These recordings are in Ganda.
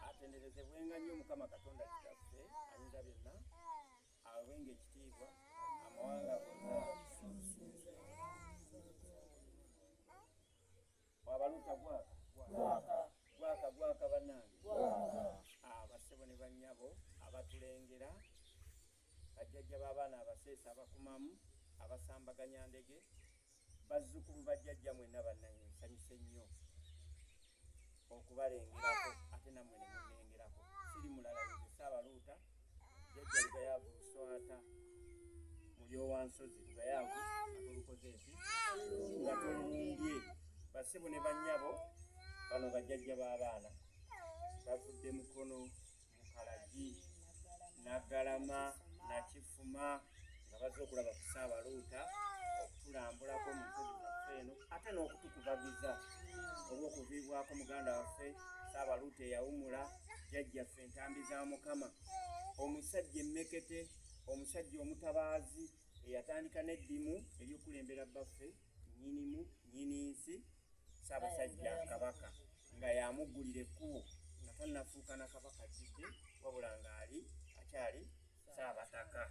atenderezebwenga nnyo mukama katonda kitaffe ayinza byonna awenga ekitiibwa amawanga wabaluta gwaka gwaka gwaka banange ah, basebo ne banyabo abatulengera bajjajja b'abaana abaseesa abakumamu abasambaganya ndege bazzukulu bajjajja mwenna bannange nsanyuse nnyo okubalengerako ate namwe nemunengerako siri mulala nze saabaluuta jajja lugayaavu luswata mulyowansozi lugayaavu atolukoze eki nga tolumbye basibu ne bannyabo bano bajjajja b'abaana bavudde mukono Mukalagi, Naggalama, Nakifuma nga bazze okulaba ku Ssaabaluuta okutulambulako mu nsozi zaffe eno ate n'okutukubagiza olw'okuviibwako muganda waffe Ssaabaluuta eyawumula jjajjaffe entambi za Mukama omusajja emmekete omusajja omutabaazi eyatandika n'eddimu ery'okukulembera bbaffe Nnyinimu nnyininssi Ssaabasajja Kabaka nga yamuggulira ekkubo nga tannafuuka na Kabaka ajjudde wabula ng'ali akyali Ssaabataka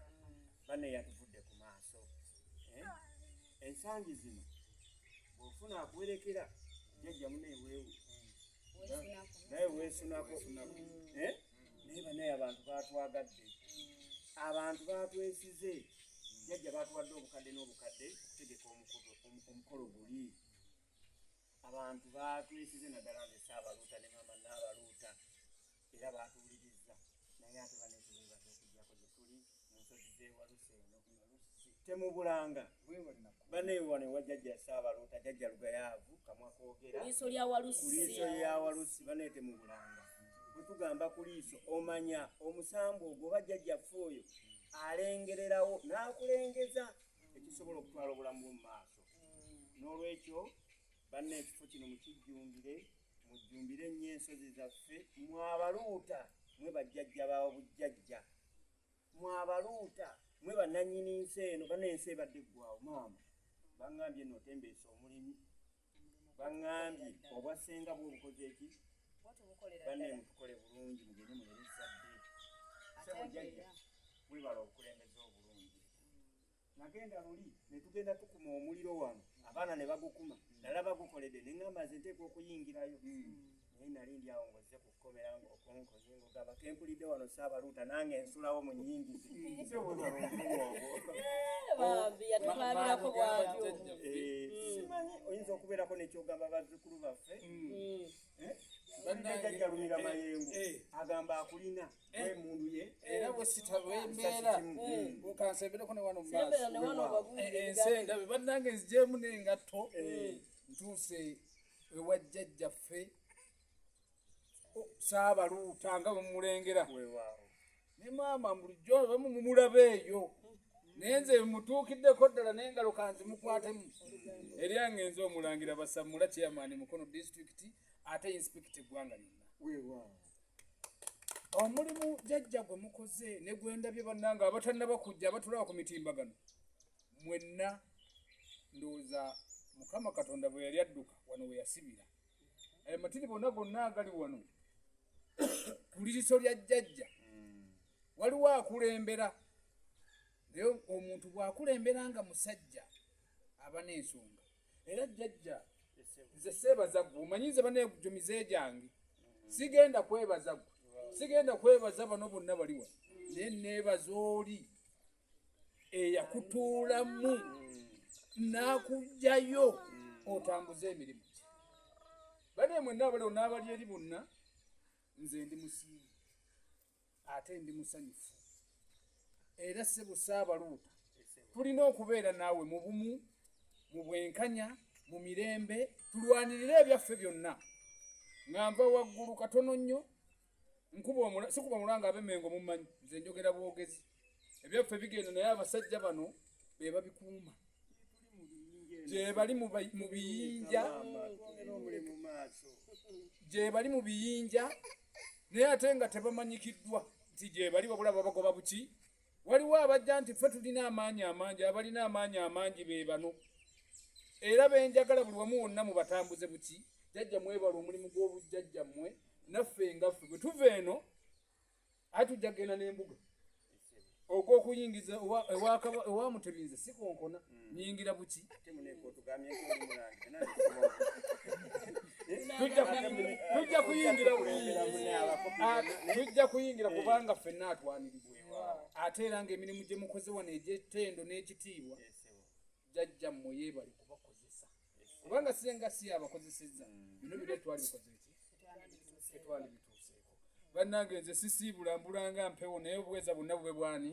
banne yatuvudde ku maaso eh? ensangi zino bw'ofuna akuwerekera jjajja muneeweewu naye weesunako eh? naye banaye abantu batwagadde abantu batwesize jajja batuwadde obukadde n'obukadde okutegeka omukolo guli abantu batwesize naddala nze saabaluuta ne maama naabaluuta era batuwuliriza naye ate banetubebaza okujjako gyetuli temubulanga banewane wa jajja saabaluuta jajja lugayaavu kamwa kogera kuliiso lya walusi banaye temubulanga bwetugamba kuliiso omanya omusambwa ogwo oba jajjaffe oyo alengererawo n'akulengeza ekisobola okutwala obulamu bwo mu maaso n'olwekyo banna ekifo kino mukijjumbire mujjumbire nnyo ensozi zaffe mwabaluuta mwe bajjajja bawo bujjajja mwabaluuta mwe bananyini nsi eno bana ensi ebadde eggwawo maama bangambye notembeesa omulimu bangambye obwa senga bwe obukoze eki banne mutukole bulungi mugende mulere ezzadde sebo jajja webala obukulembeze obulungi nagenda luli netugenda tukuma omuliro wano abaana ne bagukuma nalaba gukolede ne ŋamba nze nteeka okuyingirayo hmm. naye nali ndi awo ngozze ku kkomera ngaokonkonye ngogamba kempulidde wano saabaluuta nange ensulawo mu nyingizi simanyi oyinza okubeerako nekyogamba bazzukulu baffe hmm. eh? jajjalumira mayengo eh. agamba akulina emundu ye era bwesita bwembeera nkansembereko ne wano ensi endabe bannange nzigyemu n'engatto ntuuse ewa jjajjaffe saabaluuta nga bwemulengera ne maama bulijjo bamu mumulaba eyo naye nze mutuukiddeko ddala naye ngalo kanzimukwatemu eri angenza omulangira basamula chairman mukono disitulikiti ate inspecta eggwanga lyonna omulimu jajja gwe mukoze ne gwendabye bannanga abatannaba kujja abatulaba ku mitimbagano mwenna ndowooza mukama katonda bwe yali adduka wano we yasibira ayo matiri bonna gonna agali wano ku liriso lya jajja waliwo akulembera naye omuntu bw'akulembera nga musajja aba n'ensonga era jjajja nze seebaza gwe omanyi nze banegyo mize gyange sigenda kwebaza gwe sigenda kwebaza bano bonna bali wano naye neebaza oli eyakutuulamu n'akugjayo otambuze emirimu gye bane mwenna abalewo n'abali eri bonna nze ndi musiimu ate ndi musanyufu era ssebo saabaluuta tulina okubeera naawe mu bumu mu bwenkanya mu mirembe tulwanirire ebyaffe byonna nga nva waggulu katono nnyo nkuba sikuba mulanga abemengo mumanyi nze njogera bwogezi ebyaffe bigenda naye abasajja bano be babikuuma gyebali mu biyinja gyebali mu biyinja naye ate nga tebamanyikiddwa nti gyebali wabula babagoba buki waliwo abajja nti ffe tulina amaanyi amangi abalina amaanyi amangi be bano era benjagala buli wamu wonna mubatambuze buki jajja mwebala omulimu gw'obujjajjammwe naffe ngaffe bwe tuva eno aye tujja kugenda n'embuga okwokuyingiza ewamutebinze sikonkona hmm. nyingira buki tujja kuyingira tujja kuyingira eh. kubanga ffenna atwanirizibwa ate era nga emirimu gye mukoze wano egy'ettendo n'ekitiibwa jajja mmwe yeebali kubakozesa kubanga senga si abakozeseza mm. bino bino twalibikoze ki tetwalibituuseeko bannange nze sisiibula mbulanga mpewo naye obuweza bonna bube bwani